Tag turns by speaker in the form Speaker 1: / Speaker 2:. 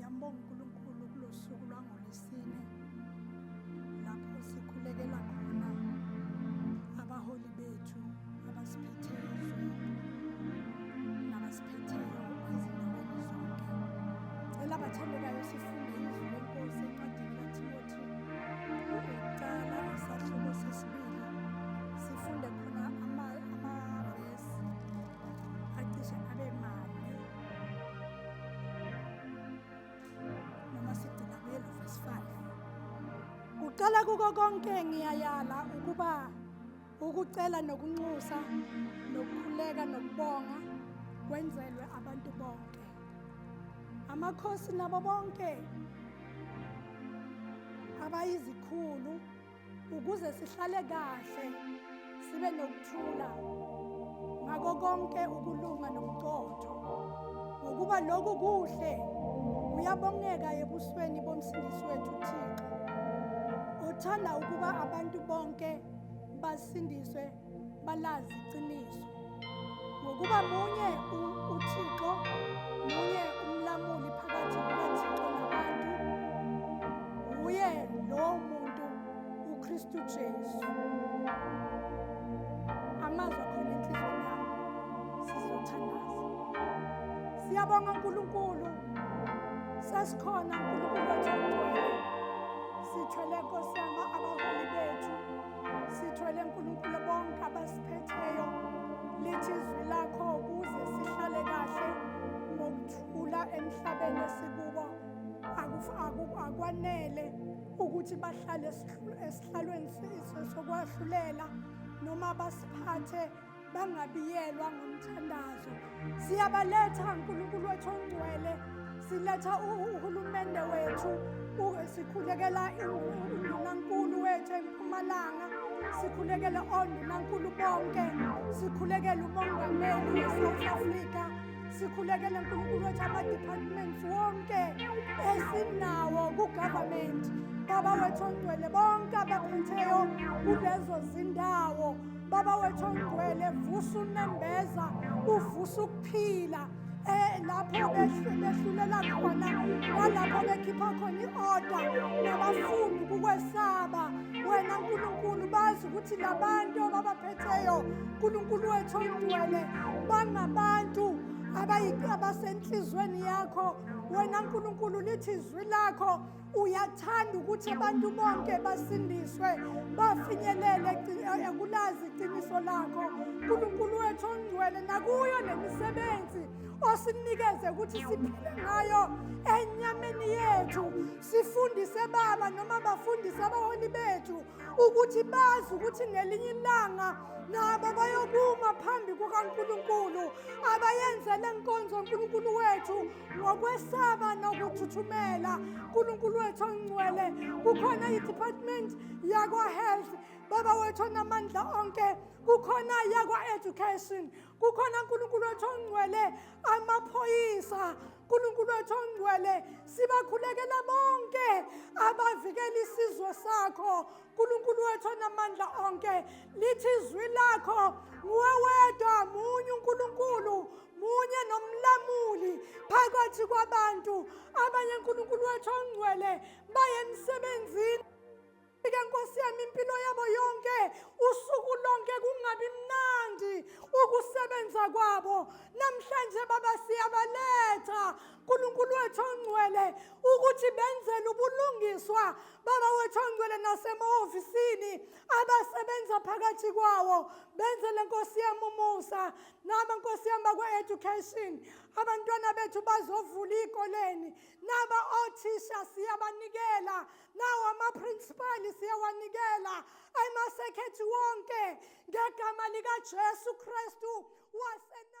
Speaker 1: Yambonga uNkulunkulu kulosuku lwangolesine lapho sikhulekela khona abaholi bethu abasiphetheyo nabasiphetheyo ezindaweni zonke. Cela abathandekayo sifunde izwi lenkosi encwadini kaThimothi ukuqala isahluko sesibili sifunde khona amavesi acishe abe mane. noma sigcina kuye lo verse 5 kuqala kuko konke ngiyayala ukuba ukucela nokunxusa nokukhuleka nokubonga kwenzelwe abantu bonke amakhosi nabo bonke abayizikhulu ukuze sihlale kahle sibe nokuthula ngako konke ukulunga nobuqotho ngokuba lokhu kuhle kuyabongeka ebusweni bomsindisi wethu Thixo othanda ukuba abantu bonke basindiswe balazi iqiniso ngokuba munye uThixo munye umlamuli phakathi kukaThixo nabantu wuye lowo muntu uKristu Jesu amazwi akhona enhlizweni yami sizothandaza siyabonga uNkulunkulu sasikhona uNkulunkulu wathi sithwele Nkosi yami abaholi bethu Sithwele Nkulunkulu bonke abasiphetheyo lithi izwi lakho ukuze sihlale kahle ngokuthula emhlabeni esikubo akwanele ukuthi bahlale esihlalweni sokwahluleka noma basiphathe bangabiyelwa ngomthandazo siyabaletha nkulunkulu wethu ongcwele siletha uhulumende wethu sikhulekela undunankulu wethu empumalanga sikhulekela ondunankulu bonke sikhulekela umongameli we-south africa sikhulekele nkulunkulu wethu ama-departments wonke esinawo kugovernment baba wethu ongcwele bonke abaphetheyo kulezo zindawo Baba wethu ongcwele vusa unembeza uvusa ukuphila eh lapho behlulela khona nalapho bekhipha khona i-oda nabafundi kukwesaba wena nkulunkulu bazi ukuthi labantu ababaphetheyo nkulunkulu wethu ongcwele bangabantu abasenhliziyweni yakho wena nkulunkulu lithi izwi lakho uyathanda ukuthi abantu bonke basindiswe bafinyelele ekulazi iqiniso lakho nkulunkulu wethu ongcwele nakuyo nemisebenzi osinikeze ukuthi siphile ngayo enyameni yethu sifundise baba noma bafundise abaholi bethu ukuthi bazi ukuthi ngelinye ilanga nabo bayokuma phambi kukankulunkulu abayenzele nkonzo nkulunkulu wethu ngokwesaba nokuthuthumela nkulunkulu wethu ongcwele kukhona i-department yakwa-health baba wethu onamandla onke kukhona yakwa-education kukhona nkulunkulu wethu ongcwele amaphoyisa nkulunkulu wethu ongcwele sibakhulekela bonke abavikela isizwe sakho nkulunkulu wethu onamandla onke lithi izwi lakho nguwe wedwa munye unkulunkulu munye nomlamuli phakathi kwabantu abanye nkulunkulu wethu ongcwele baye emsebenzini ke nkosi yami impilo yabo yonke usuku lonke kungabi mnandi ukusebenza kwabo namhlanje baba siyabaletha nkulunkulu wethu ongcwele ukuthi benzele ubulungiswa Baba wethu ongcwele nasemahofisini abasebenza phakathi kwawo benze le nkosi yami umusa naba nkosi yami bakwe-education abantwana bethu bazovula iy'koleni naba othisha siyabanikela nawo amaprinsipali siyawanikela emasekhethi wonke ngegama likajesu kristu wasena